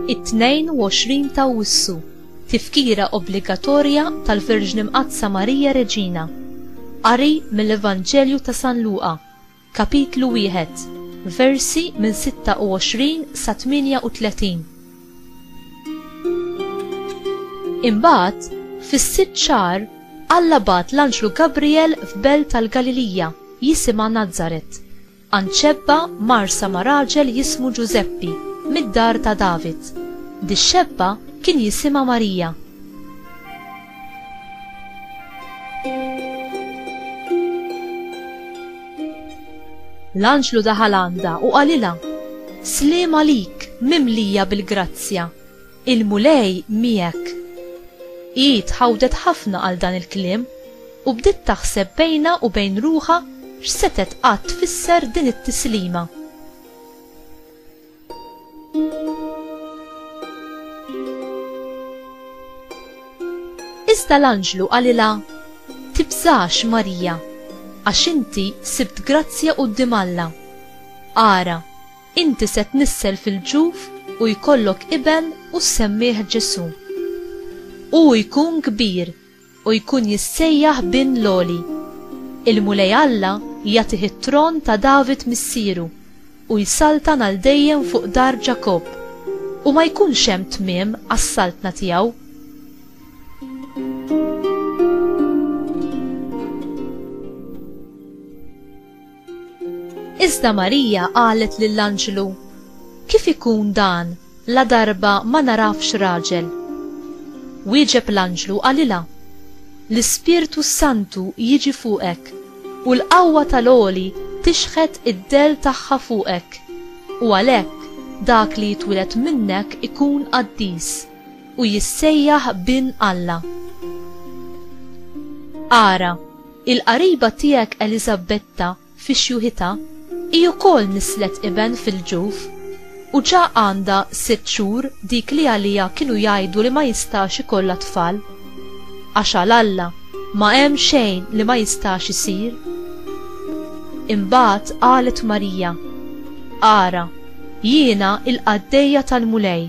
It-22 ta' Wissu, tifkira obbligatorja tal-Verġni Mqaddsa Marija Reġina. Qari mill-Evanġelju ta' San Luqa. Kapitlu Wieħed, versi minn 26 sa 38 Imbagħad, fis-sitt xahar, Alla bagħat l-anġlu Gabrijel f'belt tal-Galilija jisimha Nazaret, għand xebba marsa ma' raġel jismu Ġużeppi, mid-dar ta' David. Dix-xebba kien jisimha Marija. L-anġlu daħal għandha u qalilha, Sliem għalik, mimlija bil-grazzja, il-Mulej miegħek. Hi tħawdet ħafna għal dan il-kliem u bdiet taħseb bejnha u bejn ruħha x'setgħet qatt tfisser din it-tislima. Iżda l-anġlu qalilha, Tibżax, Marija, għax inti sibt grazzja quddiem Alla. Ara, inti se tnissel fil-ġuf u jkollok iben u ssemmih Ġesù. Hu jkun kbir u jkun jissejjaħ Bin l-Għoli. Il-Mulej Alla jagħtih it-tron ta' David missieru, u jsaltan għal dejjem fuq dar Ġakobb, u ma jkunx hemm tmiem għas-saltna tiegħu. Iżda Marija qalet lill-anġlu, Kif ikun dan, ladarba ma nagħrafx raġel? Wieġeb l-anġlu qalilha, L-Ispirtu s-Santu jiġi fuqek, u l-qawwa tal-Għoli tixħet id-dell tagħha fuqek, u għalhekk dak li jitwieled minnek ikun qaddis, u jissejjaħ Bin Alla. Ara! Il-qariba tiegħek Eliżabbetta fi xjuħitha hi wkoll nisslet iben fil-ġuf, u ġa għandha sitt xhur dik li għaliha kienu jgħidu li ma jistax ikollha tfal. Għax għal Alla ma hemm xejn li ma jistax isir. Imbagħad qalet Marija, Ara, jiena l-qaddejja tal-Mulej,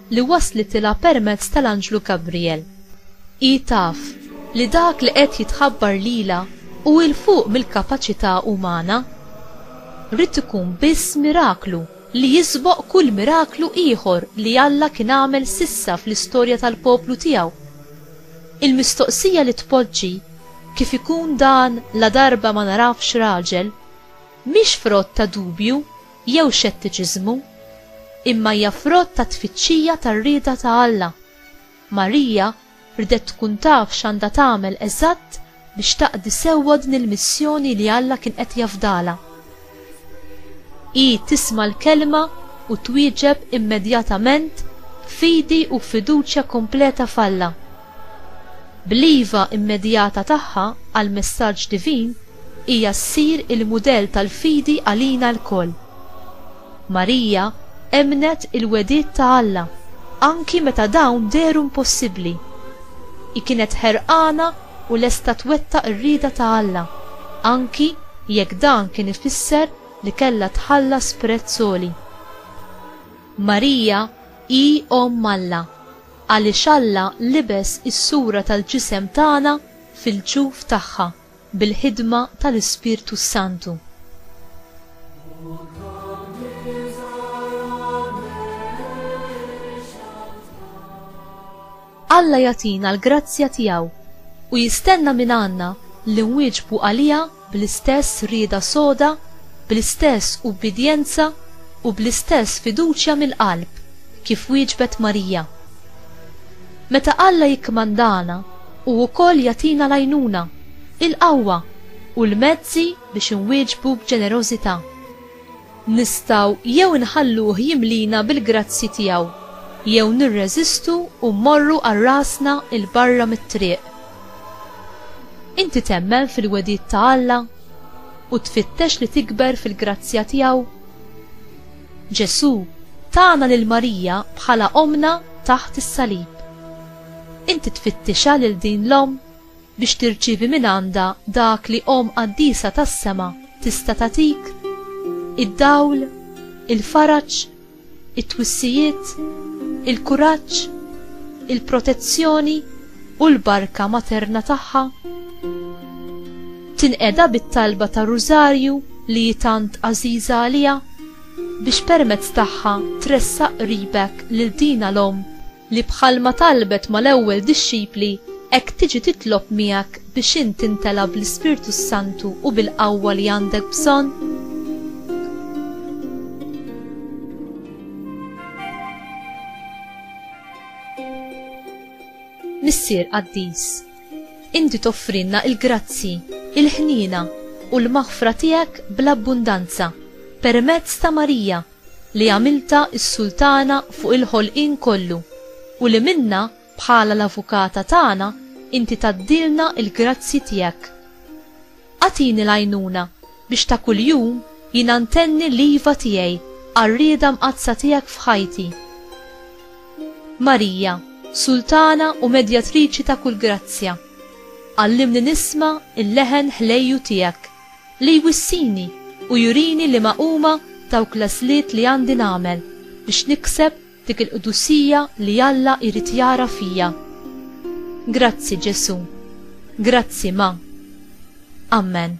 li waslitilha permezz tal-anġlu Gabrijel. Hi taf li dak li qed jitħabbar lilha hu 'l fuq mill-kapaċità umana. Ried ikun biss miraklu li jisboq kull miraklu ieħor li Alla kien għamel s'issa fl-istorja tal-poplu tiegħu. Il-mistoqsija li tpoġġi, Kif ikun dan ladarba ma narafx raġel? mhix frott ta' dubju jew xettiċiżmu, imma hija frott ta' tfittxija tar-rieda ta' Alla. Marija rdet tkun taf x'għandha tagħmel eżatt biex taqdi sewwa din il-missjoni li Alla kien qed jafdalha. Hi tisma' l-Kelma u twieġeb immedjatament b'fidi u b'fiduċja kompleta f'Alla. Bl-iva immedjata tagħha għall-messaġġ divin, hija ssir il-mudell tal-fidi għalina lkoll. Marija emmnet il-wegħdiet ta' Alla anki meta dawn dehru impossibbli. Hi kienet ħerqana u lesta twettaq ir-rieda ta' Alla, anki jekk dan kien ifisser li kellha tħallas prezz għoli. Marija hi Omm Alla. Għaliex Alla libes is-sura tal-ġisem tagħna fil-ġuf tagħha bil-ħidma tal-Ispirtu s-Santu. Alla jagħtina l-grazzja tiegħu u jistenna mingħandna li nwieġbu għaliha bl-istess rieda soda, bl-istess ubbidjenza u bl-istess fiduċja mill-qalb kif wieġbet Marija. Meta Alla jikkmandana, hu wkoll jagħtina l-għajnuna, il-qawwa, u l-mezzi biex inwieġbu b'ġenerożità. Nistgħu jew inħalluh jimlina bil-grazzji tiegħu, jew nirreżistu u mmorru għal rasna 'l barra mit-triq. Inti temmen fil-wegħdiet ta' Alla u tfittex li tikber fil-grazzja tiegħu? Ġesù tana lil Marija bħala Ommna taħt is-salib. Inti tfittixha lil din l-Omm? biex tirċievi mingħandha dak li Omm Qaddisa tas-sema tista' tagħtik, id-dawl, il-faraġ, it-twissijiet, il-kuraġġ, il-protezzjoni u l-barka materna tagħha. Tinqeda bit-talba tar-Rużarju li hi tant għażiża għaliha, biex permezz tagħha tressaq qribek lil dina l-Omm. li bħalma talbet mal-ewwel dixxipli, hekk tiġi titlob miegħek biex int timtela bl-Ispirtu s-Santu u bil-qawwa li għandek bżonn? Missier Qaddis, inti toffrilna l-grazzji, il-ħniena, u l-maħfra tiegħek bl-abbundanza permezz ta' Marija, li għamiltha s-Sultana fuq il-ħolqien kollu u li minnha bħala l-Avukata tagħna inti tgħaddilna l-grazzji tiegħek. Agħtini l-għajnuna biex ta' kuljum jiena ntenni l-iva tiegħi għar-rieda mqaddsa tiegħek f'ħajti. Marija, Sultana u Medjatriċi ta' kull grazzja, għallimni nisma' l-leħen ħlejju tiegħek. Li jwissini u jurini liema huma dawk l-għażliet li għandi nagħmel biex nikseb dik il-qdusija li Alla jrid jara fija. Grazzi, Ġesù. Grazzi, Ma. Ammen.